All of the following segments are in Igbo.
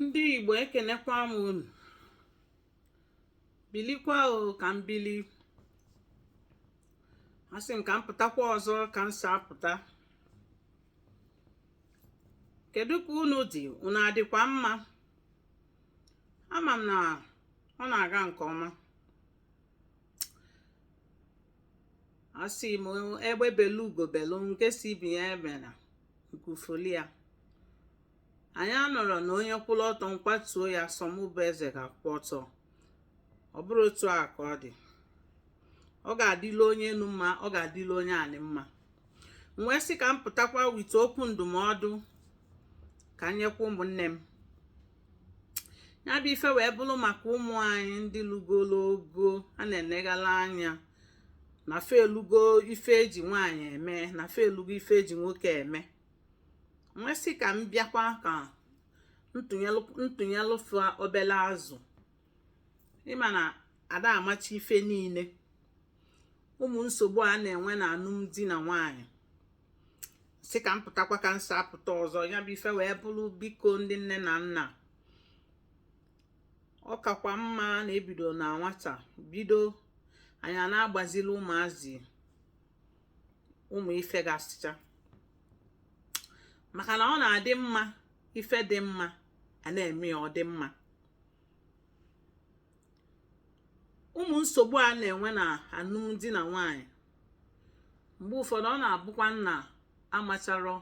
ndị igbo ekenekwa m unu bilikwa o ka m bili asị m ka m pụtakwa ọzọ ka m si apụta kedu ka unu dị unu adịkwa mma ama m na ọ na-aga nke ọma asị m egbe belu ugo belu nke sị ibe ya ebena nku foli ya anyị anọrọ na onye kwụrụ ọtọ m kwatuo ya sọ mụ bụ eze ga-akwụ ọtọ ọ bụrụ otu a ka ọ dị ọ ga-adịla onye enu mma ọ ga-adịla onye anị mma m wee sị ka m pụtakwa wite okwu ndụmọdụ ka m nyekwa ụmụnne m ya bụ ife wee bụrụ maka ụmụ anyị ndị lugolo ogo a na-enegala anya na fa elugo ife eji nwaanyị eme na fa elugo ife eji nwoke eme m wee sị ka m bịakwa ka m tụnyelụ fa obele azụ ị ma na ada amacha ife niile ụmụ nsogbu a na-enwe na alụmdi na nwanyị sị ka m pụtakwa ka m si apụta ọzọ ya bụ ife wee bụrụ biko ndị nne na nna ọ kakwa mma na ebido na nwata bido anyị a na-agbazili ụmụazị ụmụ ife gasịcha maka na ọ na-adị mma ife dị mma a na-eme ya ọ dị mma ụmụ nsogbu a na-enwe na alụmdi na nwanyị mgbe ụfọdụ ọ na-abụkwa na amacharọ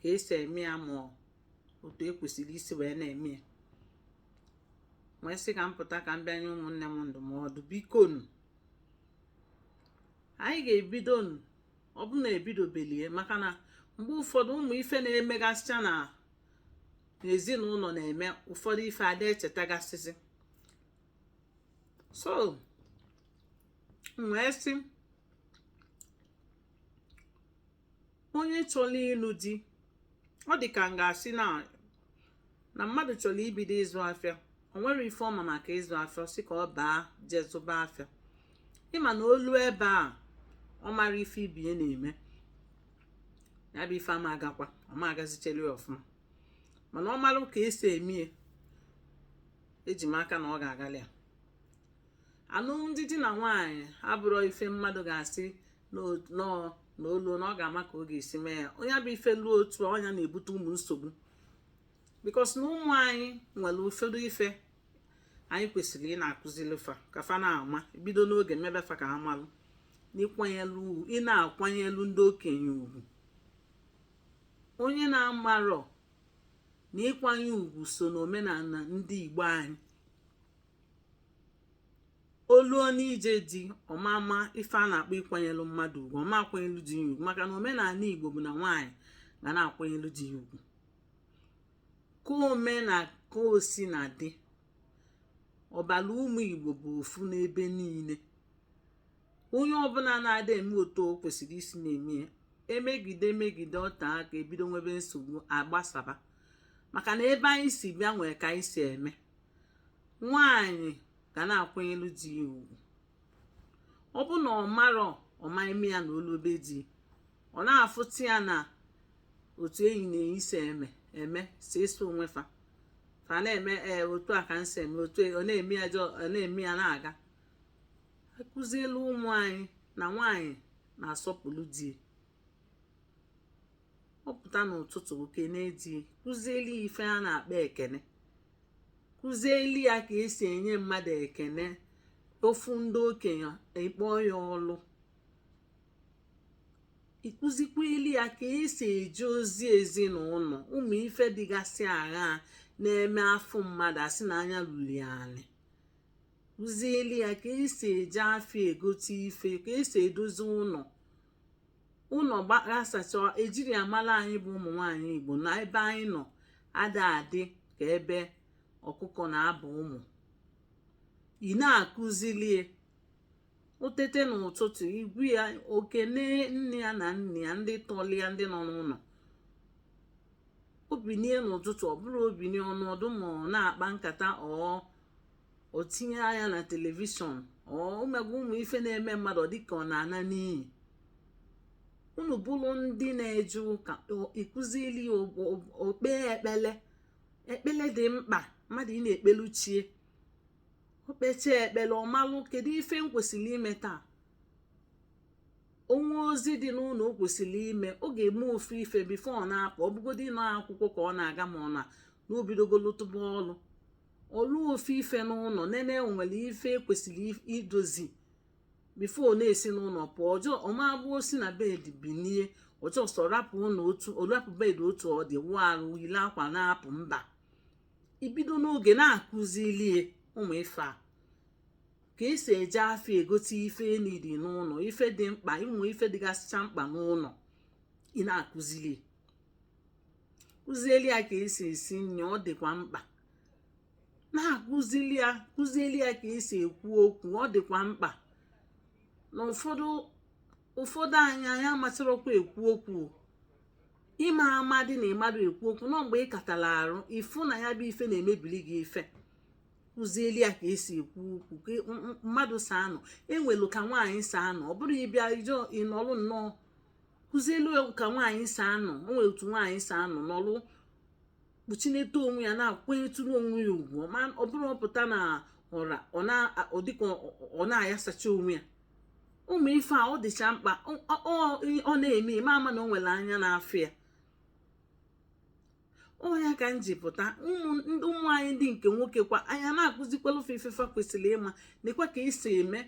ka esi eme ya ma otu ekwesịrị isi wee na-eme ya wee sị ka m pụta ka m bịa nye ụmụnne m ndụmọdụ bikonu anyị ga-ebido nụ ọ bụ na ebidobelie maka na mgbe ụfọdụ ụmụ ife na-emegasịcha na n'ezinụlọ na-eme ụfọdụ ife ada echetagasịzi so wee sị onye chọrọ ịlụ di ọ dị ka m ga-asị na mmadụ chọrọ ibido ịzụ afịa o nwerọ ife ọ ma maka ịzụ afịa sị ka ọ baa jee zụba afịa ị ma na o lu ebe a ọ marọ ife ibe ya na-eme ya bụ ife ama agakwa ọ ma agazichelu ya ọfụma mana ọ marụ ka esi eme ya eji m aka na ọ ga-agalị ya alụmdi di na nwaanyị abụrọ ife mmadụ ga-asị na o luo na ọ ga-ama ka ọ ga-esi mee ya onye bụ ife luo otu ọ nya na-ebute ụmụ nsogbu because na ụmụ anyị nwere ụfọdụ ife anyị kwesịrị ị na-akụzili fa ka fa na-ama bido n'oge mebe fa ka ha malụ ị na-akwanyelu ndị okenye ugwu onye na-amarọ na ịkwanye ugwu so n'omenana ndị Igbo anyị o luo n'ije di ọ ma-ama ife a na-akpọ ịkwanyelụ mmadụ ugwu ọ ma-akwanyelụ di ya ugwu maka na omenana Igbo bụ na nwaanyị ga na-akwanyelụ di ya ugwu ka o me na ka o si na-adị ọbala ụmụ Igbo bụ ofu n'ebe niile onye ọbụna na-ada eme otu o kwesịrị isi na-eme ya e megide e megide o tee aka e bido nwebe nsogbu a gbasaba maka na ebe anyị si bịa nwere ka anyị si eme nwaanyị ga na-akwanyelu di ya ugwu ọ bụ na ọ marọ ọ ma-eme ya na o luo be di ọ na-afụta ya na otu enyi na enyi si eme eme si eso onwe fa fa na-eme ee eh, otu a ka m si eme otu e, ọ na-eme ya ọ na-eme ya na-aga a kụzielu ụmụ anyị na nwaanyị na-asọpụrụ di ọ pụta n'ụtụtụ o kenee di kụzieli ya ife a na-akpọ ekene kụzieli ya ka e si enye mmadụ ekene ọ fụ ndị okenye ị kpọọ ya ọlụ ị kụzikweli ya ka e si eje ozi ezinụnọ ụmụ ife dịgasị ahụ na-eme a fụ mmadụ a sị na anya luli ani kụzieli ya ka e si eje afịa egote ife ka e si edozi ụnọ ụnọ gbasacha e jiri amala anyị bụ ụmụ nwaanyị Igbo na ebe anyị nọ ada adị ka ebe ọkụkọ na-aba ụmụ ị na-akụzili e o teta n'ụtụtụ ị gwa ya o kene nne ya na nna ya ndị tọlị ya ndị nọ n'ụnọ o binie n'ụtụtụ ọ bụrọ o binie ọ nọdụ ma ọ na-akpa nkata ọ o tinye anya na television o megbu ụmụ ife na-eme mmadụ dịka ọ na-ana n'iyi unu bụlụ ndị na-eje ụka ị kụzili o kpee ekpele ekpele dị mkpa mmadụ ị na-ekpelu chi e o kpechaa ekpele ọ malụ kedu ife m kwesịrị ime taa o nwee ozi dị n'ụnọ o kwesịrị ime ọ ga-eme ofu ife before ọ na-apụ ọ bụgodị ụnọ akwụkwọ ka ọ na-aga ma ọ na na o bidogolo lụba ọlụ ọlụ ofu ife n'ụlọ nene nwere ife e kwesịrị idozi before ọ na-esi n'ụlọ pụọ ọ just ọ ma-abụ o si na bed binie ọ just rapụ ụlọ otu ọ rapụ bed otu ọ dị wụọ arụ yili akwa na-apụ mba i bido n'oge na-akụzili ya ụmụ ife a ka esi eje afịa egote ife e need n'ụlọ ife dị mkpa ụmụ ife dịgasịcha mkpa n'ụlọ ị na-akụzili kụzieli ya ka esi esi nri ọ dịkwa mkpa na-akụzili ya kụzieli ya ka esi ekwu okwu ọ dịkwa mkpa na ụfọdụ ụfọdụ anyị anyị amasịrọkwa ekwu okwu ị ma-amadị na ị madụ ekwu okwu na ọ mgbe ị katara arụ ị fụ na ya bụ ife na-emebili gị ife kụzieli ya ka esi ekwu okwu ka mmadụ si anọ e nwelu ka nwaanyị si anọ ọ bụrọ ị bịa ị just ị nọlụ nnọọ kụzielu ya ka nwaanyị si anọ o nwere otu nwaanyị si anọ nọlụ kpuchinete onwe ya na-akwanyetụrụ onwe ya ugwu ọ bụrọ ọ pụta na ọra ọ dịka ọ na-ayasacha onwe ya ụmụ ife a ọ dịcha mkpa ọ na-eme ime a ma na o nwere anya na-afụ ya ọ ya ka m ji pụta ụmụ anyị ndị nke nwoke kwa anyị na-akụzikwalụ fa ife fa kwesịrị ịma nekwa ka esi eme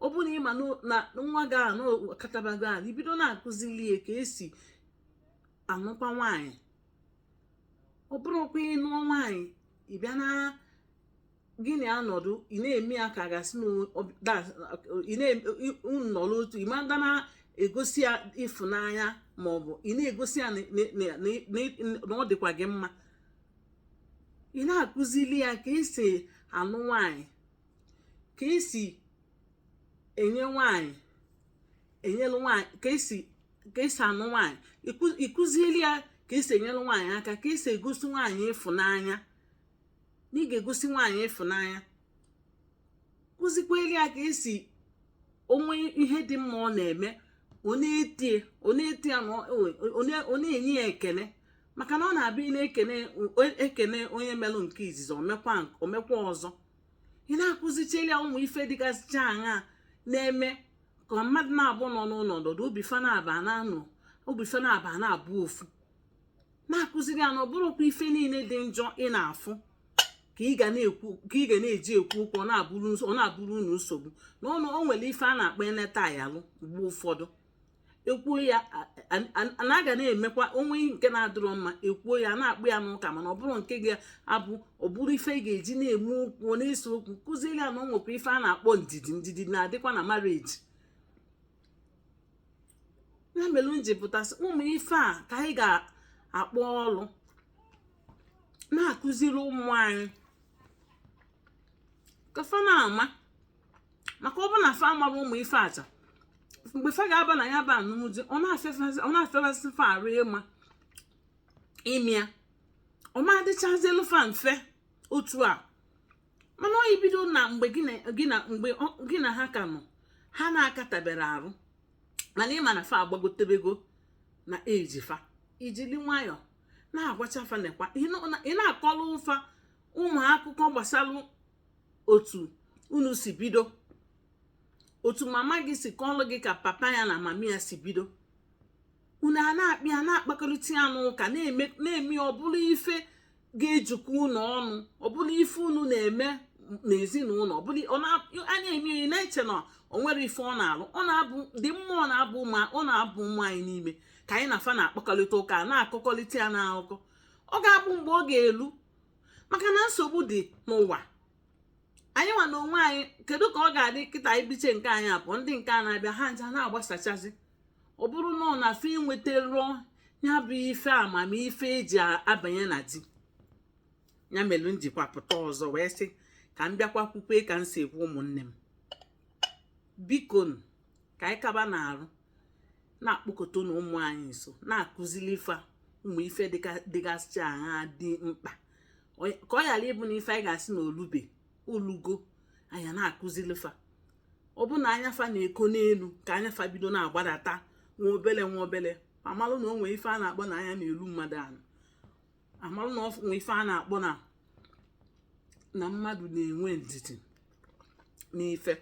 ọ bụrụ na ị ma na nwa gị a na ọ katabago arụ i bido na-akụzili ya ka esi anụkwa nwaanyị ọ bụrọkwa ị nụọ nwaanyị ị bịa na gị na ya nọdụ ị na-eme ya ka a ga-asị nọrọ otu ị madị na-egosi ya ịfụnanya ma ọ bụ ị na-egosi ya na ọ dịkwa gị mma ị na-akụzili ya ka esi anụ nwaanyị ka esi enye nwaanyị enyelu nwaanyị ka esi ka esi anụ nwaanyị ị kụzieli ya ka esi enyere nwaanyị aka ka esi egosi nwaanyị ịfụnanya na ị ga-egosi nwaanyị ịfụnanya kụzikweli ya ka esi o nwee ihe dị mma ọ na-eme ọ na-eto ya ọ na-enye ya ekele maka na ọ na-abụ a na-ekene onye melụ nke izizi o mekwa ọzọ ị na-akụzicheli ya ụmụ ife dịgasịcha aṅa na-eme ka mmadụ naabọ nọ n'ụlọ nọdụ obi fa naabọ na-anụ obi fa naabọ na-abụ ofu na-akụziri ya na ọ bụrọkwa ife niile dị njọ ị na-afụ ka ị ga na-eji ekwu okwu ọ na-abụrụ unu nsogbu n'ụnọ o nwere ife a na-akpọ e neta a yalụ mgbe ụfọdụ e kwuo ya na a ga na-emekwa o nwee nke na-adịrọ mma e kwuo ya na-akpa ya n'ụka mana ọ bụrọ nke ga-abụ ọ bụrụ ife ị ga-eji na-eme okwu na-ese okwu kụziere ya na o nwekwa ife a na-akpọ ndidi ndidi na-adịkwa na marriage ya mere m ji pụta sị ụmụ ife a ka anyị ga-akpọ ọlụ na-akụziri ụmụ anyị ka fa na-ama maka ọ bụ na fa amarọ ụmụ ife a ncha mgbe fa ga-aba na ya bụ anụmdi ọ na-afịafasị fa arụ ịma ịmịa ọ ma adịchazielu fa mfe otu a mana ọ i bido na mgbe gị na ha ka nọ ha na-akataberọ arụ mana ị ma na fa agbagotebego na age fa i jili nwayọọ na-agwacha fa nekwa ị na-akọlụ fa ụmụ akụkọ gbasalụ otu unu si bido otu mama gị si kọlụ gị ka papa ya na mama ya si bido unu a na-akpa ya na-akpakọrịta ya n'ụka na-eme ọ bụrụ ife ga-ejikọ unu ọnụ ọ bụlụ ife unu na-eme n'ezinụlọ ọ bụlụ a na-eme onye na-eche na o nwere ife ọ na-alụ ọ na-abụ di m ma ọ na-abụ ma ọ na-abụ ụmụ anyị n'ime ka anyị na fa na-akpakọrịta ụka na-akọkọrịta ya n'akụkọ ọ ga-abụ mgbe ọ ga-elu maka na nsogbu dị n'ụwa anyị nwa na onwe anyị kedu ka ọ ga-adị kịta ibiche nke anyị abụọ ndị nke a na-abịa ha ncha na-agbasachazi ọ bụrụ na ọ na fa enwetarọ ya bụ ife amamife eji abanye na di ya mere m jikwa pụta ọzọ wee sị ka m bịakwa kwukwe ka m si ekwu ụmụnne m biko ka anyị kaba na-arụ na-akpọkọtanụ ụmụ anyị nso na-akụzili fa ụmụ ife dịgasị iche ahụ dị mkpa ka ọ ghara ịbụ na ife anyị ga-asị na o lube o lugo anyị na-akụzili fa ọ bụ na anya fa na-eko n'elu ka anya fa bido na-agbadata nwa obele nwa obele amalụ na o nwe ife a na-akpọ na anya na-elu mmadụ anị amalụ na o nwe ife a na-akpọ na na mmadụ na-enwe ndidi n'ife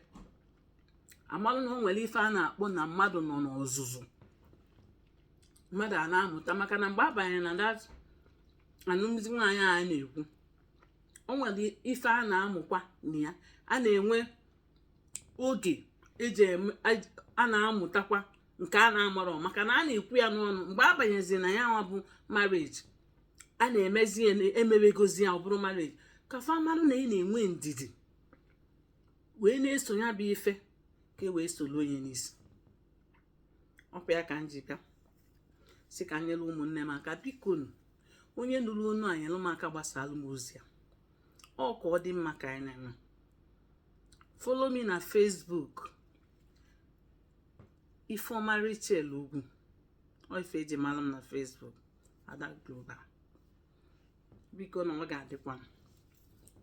amalụ na o nwere ife a na-akpọ na mmadụ nọ n'ọzụzụ mmadụ a na-amụta maka na mgbe a banye na that anụmdi nwa anyị a na-ekwu o nwere ife a na-amụkwa na ya a na-enwe oge eji a na-amụtakwa nke a na-amarọ maka na a na-ekwu ya n'ọnụ mgbe a banyezi na ya nwa bụ marriage a na-emezi e mebegozie ya ọ bụrụ marriage ka fa marụ na ị na-enwe ndidi wee na-eso ya bụ ife ka e wee soro onye n'isi ọ kwa ya ka m ji bịa sị ka m nyere ụmụnne m aka bikonụ onye nụrụ onu a nyere m aka gbasaalụ m ozi a ọ ka ọ dị mma ka anyị na-eme follow me na Facebook Ifeoma Rachel Ugwu ọ ife eji mara m na Facebook Ada Global bikonụ ọ ga-adịkwa mma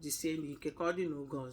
jisienụ ike ka ọ dị n'oge ọzọ